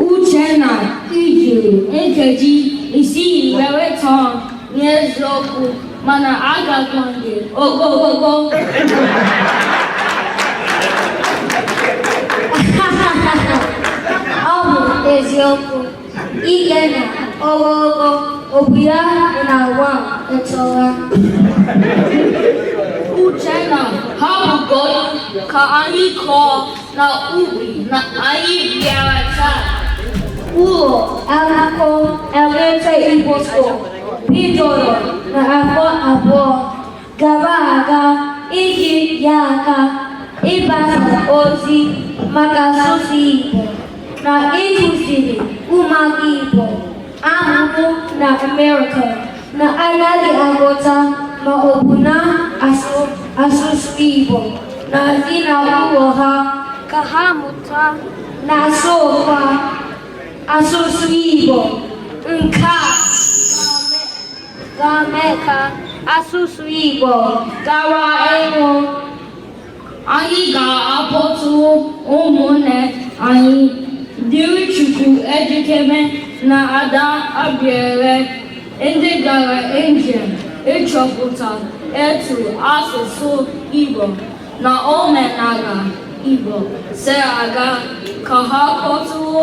Uchenna i jiri nkeji isii wee tọọ m eziokwu mana akakwa m gị ogologo ọ bụ eziokwu Ikenna ogologo abụghị na nwa m etoola. Uchenna hapụgodu ka anyị kọọ na ubi na anyị bịara taa. Ụlọ akwụkwọ Atlanta Igbo School bidoro na afọ abụọ gara aga iji nye aka ịgbasa ozi maka asụsụ Igbo na ịkụziri ụmụaka Igbo a mụrụ na Amerịka na anaghị aghọta ma ọ bụ na asụsụ Igbo na ezi na ụlọ ha ka ha mụta na asụkwa asụsụ Igbo nke a ga-eme ka asụsụ Igbo ghara ịnwụ anyị ga-akpọtụ ụmụnne anyị Dịrịchukwu Ejikeme na Ada Abiere ndị gara njem ịchọpụta etu asụsụ Igbo na omenala Igbo si aga ka ha kpọtụwo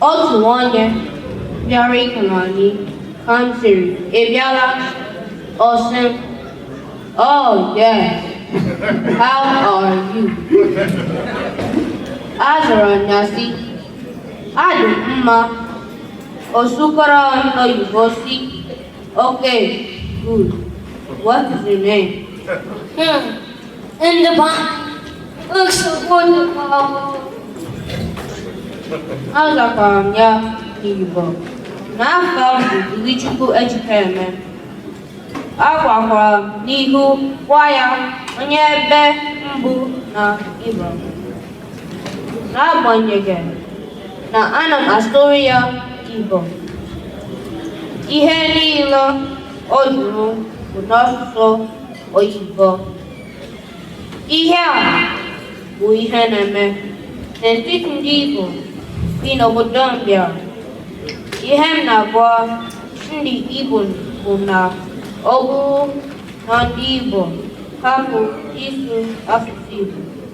Otu onye bịara ịhụ nna anyị ka m sịrị, ị bịala? Ọ sị m, Oh, yes. How are you? Azara m ya sị, Adị m mma. Ọ sụkwara m oyibo sị, Okay, good. What is your name? Hmm. In the back. Looks so wonderful. Azakwara m ya n'Igbo na afa m bụ Dịrịchukwu Ejikeme. Agakwara m n'ihu gwa ya onye ebe m bụ na Igbo. N'agbanyeghị na ana m asụrụ ya Igbo, ihe niile ọ jụrụ bụ n'asụsụ oyibo. Ihe a bụ ihe na-eme n'etiti ndị Igbo bi n'obodo mbịa. Ihe m na-agwa ndị Igbo bụ na ọ bụrụ na ndị Igbo hapụ ịsụ asụsụ Igbo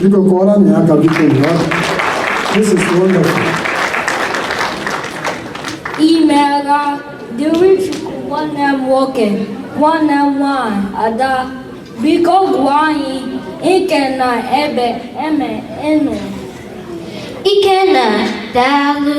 Biko kụọrọnụ ya aka biko This is wonderful. Imeela dịrị Chukwu nwanne m nwoke nwanne m nwanyị ada biko gwa anyị ike na ebe eme enu Ikenna daalụ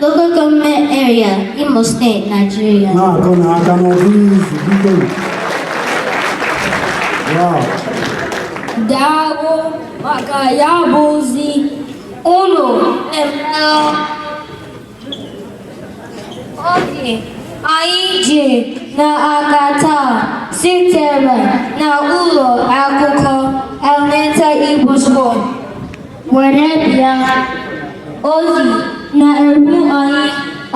Local Government Area, Imo State, Nigeria. Na-akụ na aka n'ọdụ izu biko. Wow. Daalụ maka ya bụ ozi unu emeela ozi anyị ji n'aka taa sitere na ụlọ akwụkwọ Elementary Igbo School. were bịa ozi na-eru anyị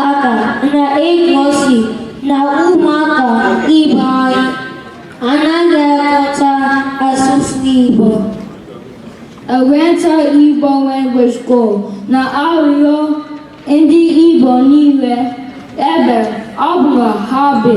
aka na-egosi na ụmụaka ibe anyị anaghị aghọta asụsụ Igbo eweta Igbo language school na-arịọ ndị Igbo niile ebe ọ bụla ha bi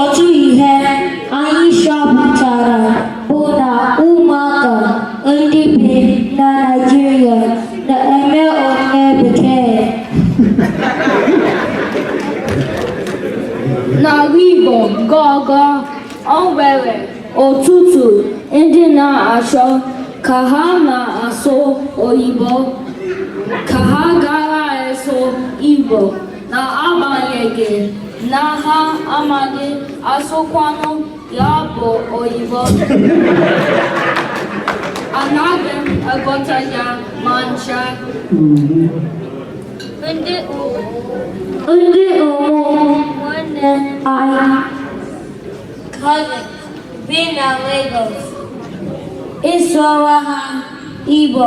Otu ihe anyị chọpụtara bụ na ụmụaka ndị bi na Naịjirịa na-eme onye bekee. N'ala Igbo gọgọ o nwere ọtụtụ ndị na-achọ ka ha na-asụ oyibo ka ha ghara ịsụ Igbo. n'agbanyeghị na ha amaghị asụkwanụ ya bụ oyibo anaghị m aghọta ya ma ncha ndị ndị ụmụnne anyị cousin bi na Lagos ị sụọra ha Igbo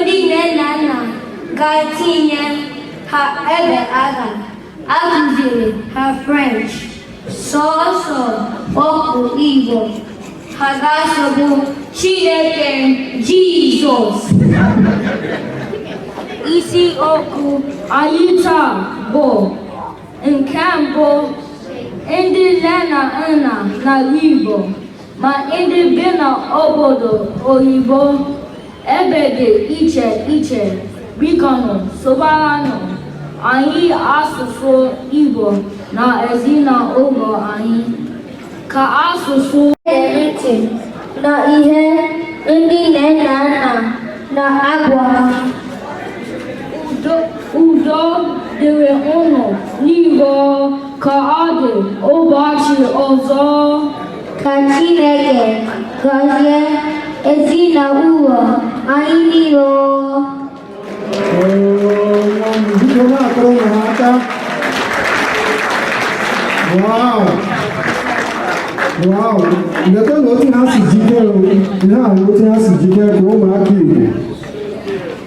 ndị nne na nna ga-etinye ha ebe a ga-akụziri ha French sọsọ okwu Igbo ha ga-asụ bụ Chineke Jizọs isi okwu anyị taa bụ nke mbụ ndị nne na nna n'ala Igbo ma ndị bi n'obodo oyibo ebe dị iche iche bikonụ sụbaranụ anyị asụsụ Igbo na ezinụlọ anyị ka asụsụ ntị na ihe ndị nne na nna na-agwa udo dịrị unu niile ka ọ dị ụbọchị ọzọ ka Chineke gọzie ezinụlọ anyị niile Wow! Wow! Letụnụ otu ha si jikere, ihe a na otu ha si jikere ka ụmụaka Igbo